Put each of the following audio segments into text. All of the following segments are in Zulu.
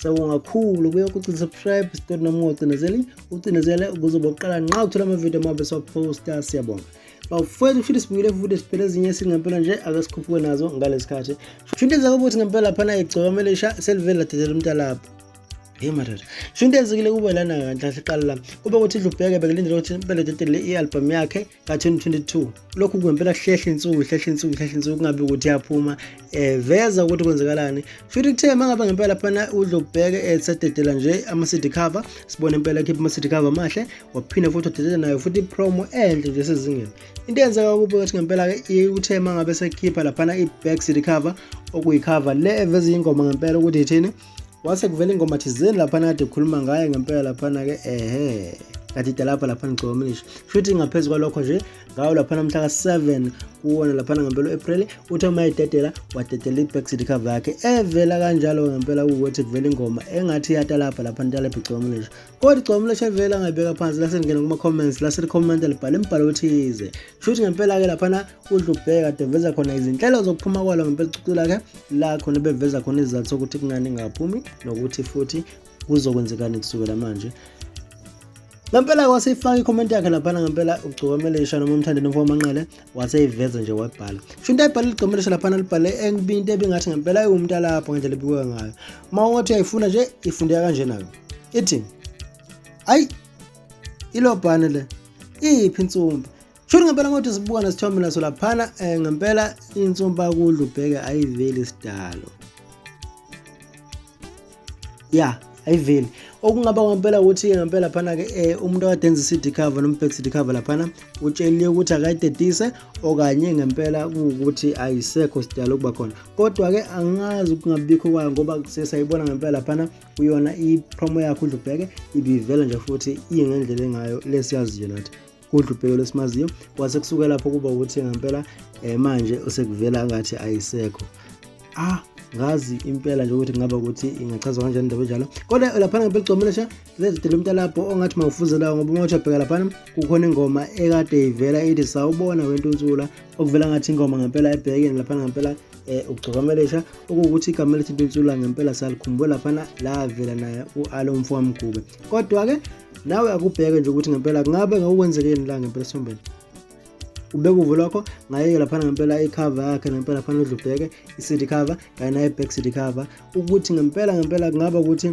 sawubonga kakhulu kuye ukuthi subscribe siqonde noma ungacindezeli ucindezele ukuze bokuqala nqa uthola amavidiyo amabe siwaphosta siyabonga bawufethu futhi sibuyile futhi siphele ezinye esingempela nje ake sikhuphuke nazo ngalesi khathi sho into ezake ukuthi ngempela laphana igcoka mele isha selivele ladedela umntalapho hey madoda sho into ezikile kube lana kanhle siqala la kube ukuthi idlubheke bekulindele ukuthi impela dedele i-albhamu yakhe ka-2022 lokhu kungempela kuhlehla insuku kuhlehla insuku kuhlehla insuku kungabi ukuthi yaphuma um veza ukuthi kwenzekalani futhi kuthe uma ngabe ngempela phana udlobheke esadedela nje ama-city cover sibone impela ekhipha ama-city cover amahle waphinde futhi wadedela nayo futhi ipromo enhle nje sezingeni into eyenzeka kubo ukuthi ngempela-ke uthe uma ngabe sekhipha laphana i-back city cover okuyikhava le eveza iyingoma ngempela ukuthi ithini wase kuvela ingoma thizeni laphana kade khuluma ngaye ngempela laphana-ke ehe kadida lapha laphana ngicobaminisha shuthi ngaphezu kwalokho nje ngawo laphana mhla ka-7 kuwona laphana ngempela u-april uthi uma ededela wadedela i-backseat cover yakhe evela kanjalo ngempela kuwukuthi kuvela ingoma engathi iyatalabha lapha nitalebhe gcobaminisha kodwa igcobaminisha evela angayibeka phansi lasengena kuma-comments laselikhommente libhale imibhalo othize shuthi ngempela-ke laphana udla ubheka kade veza khona izinhlelo zokuphuma kwalo ngempela icucu lakhe la khona beveza khona izizathu sokuthi kungani ingaphumi nokuthi futhi kuzokwenzekani kusukela manje ngempela waseyifaka ikhomenti yakhe laphana ngempela ugcokomelesha noma umthandeni mfo wamanqele waseyiveza nje wayibhala sho into ayibhale ligcokomelesha laphana libhale engibi into ebingathi ngempela iwumuntu alapho ngendlela ebikwe ngayo uma ungathi uyayifuna nje ifundeka kanje nayo ithi ayi ilobhane le iyiphi insumba Shuri ngempela ngothi sibuka nesithombe naso laphana eh, ngempela insumpa kudla ubheke ayiveli sidalo ya ayiveli okungaba kwampela ukuthi-ke ngempela phana-ke um eh, umuntu akade enza i-cd cover noma ubhek cd cover laphana utsheliwe ukuthi akayidedise okanye ngempela kuwukuthi ayisekho sidala ukuba khona kodwa-ke angazi ukungabikho kwayo ngoba sesayibona ngempela laphana kuyona i-promo yakho udlubheke ibivela nje futhi ingendlela engayo lesiyaziyo nathi kudlubheko lesimaziyo kwase kusuka lapho kuba ukuthi ngempela um manje usekuvela ngathi ayisekho ah ngazi impela nje ukuthi kungaba ukuthi ingachazwa kanjani indaba enjalo kodwa laphana ngempela ugcomelesha lezidela umntalapho ongathi mawufuzelayo ngoba uma uthabheka laphana kukhona ingoma ekade ivela ithi sawubona wentunsula okuvela ngathi ingoma ngempela ebhekeni laphana ngempela eh ugcokamelesha okuwukuthi igama elithi intunsula ngempela salikhumbula laphana lavela naye u-alo mfowamgube kodwa-ke nawe akubheke nje ukuthi ngempela kungabe ngakukwenzekeni la ngempela esombeni ubeka uvo lwakho ngayeke laphana ngempela icover yakhe ngempela phana udla ubheke i-cd cover kanye naye-back cd cover ukuthi ngempela ngempela kungaba ukuthi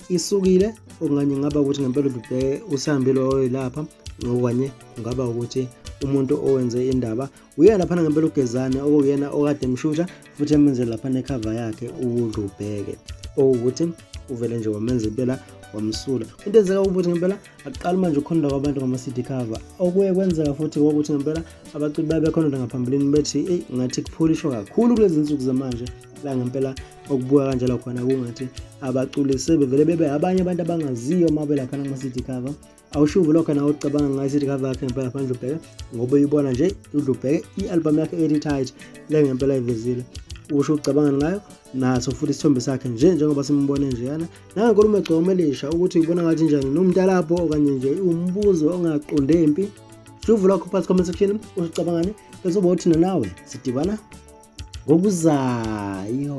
isukile okanye ngaba ukuthi ngempela udubheke usihambile oyoyilapha ngokanye kungaba ukuthi umuntu owenze indaba Uyena laphana ngempela ugezane okuyena okade emshusha futhi emenzele laphana ekhava yakhe uwudlubheke okuwukuthi uvele nje wamenza impela wamsula into enzeka ukuthi ngempela akuqali manje ukukhononda kwabantu ngama-cd cover okuye kwenzeka futhi kokuthi ngempela abaculi baye bekhononda ngaphambilini bethi eyi ngathi kupholishwa kakhulu kulezi nsuku zamanje la ngempela okubuka kanjalo khona kungathi abaculi sebevele bebe abanye abantu abangaziyo uma belaphana kuma-cd cover awushuvi lokho nawe ucabanga ngayo sithi cover yakhe ngempela phandle ubheke ngoba uyibona nje udla ubheke i-albhamu yakhe ethi tight le ngempela ivezile usho ucabanga ngayo naso futhi isithombe sakhe nje njengoba simbone njeyana nangenkulumo egcoma elisha ukuthi ubona ngathi njani nomntalapho okanye nje umbuzo ongaqonde mpi shuvu lakho phasi comment section usicabangani bese uba uthina nawe sidibana ngokuzayo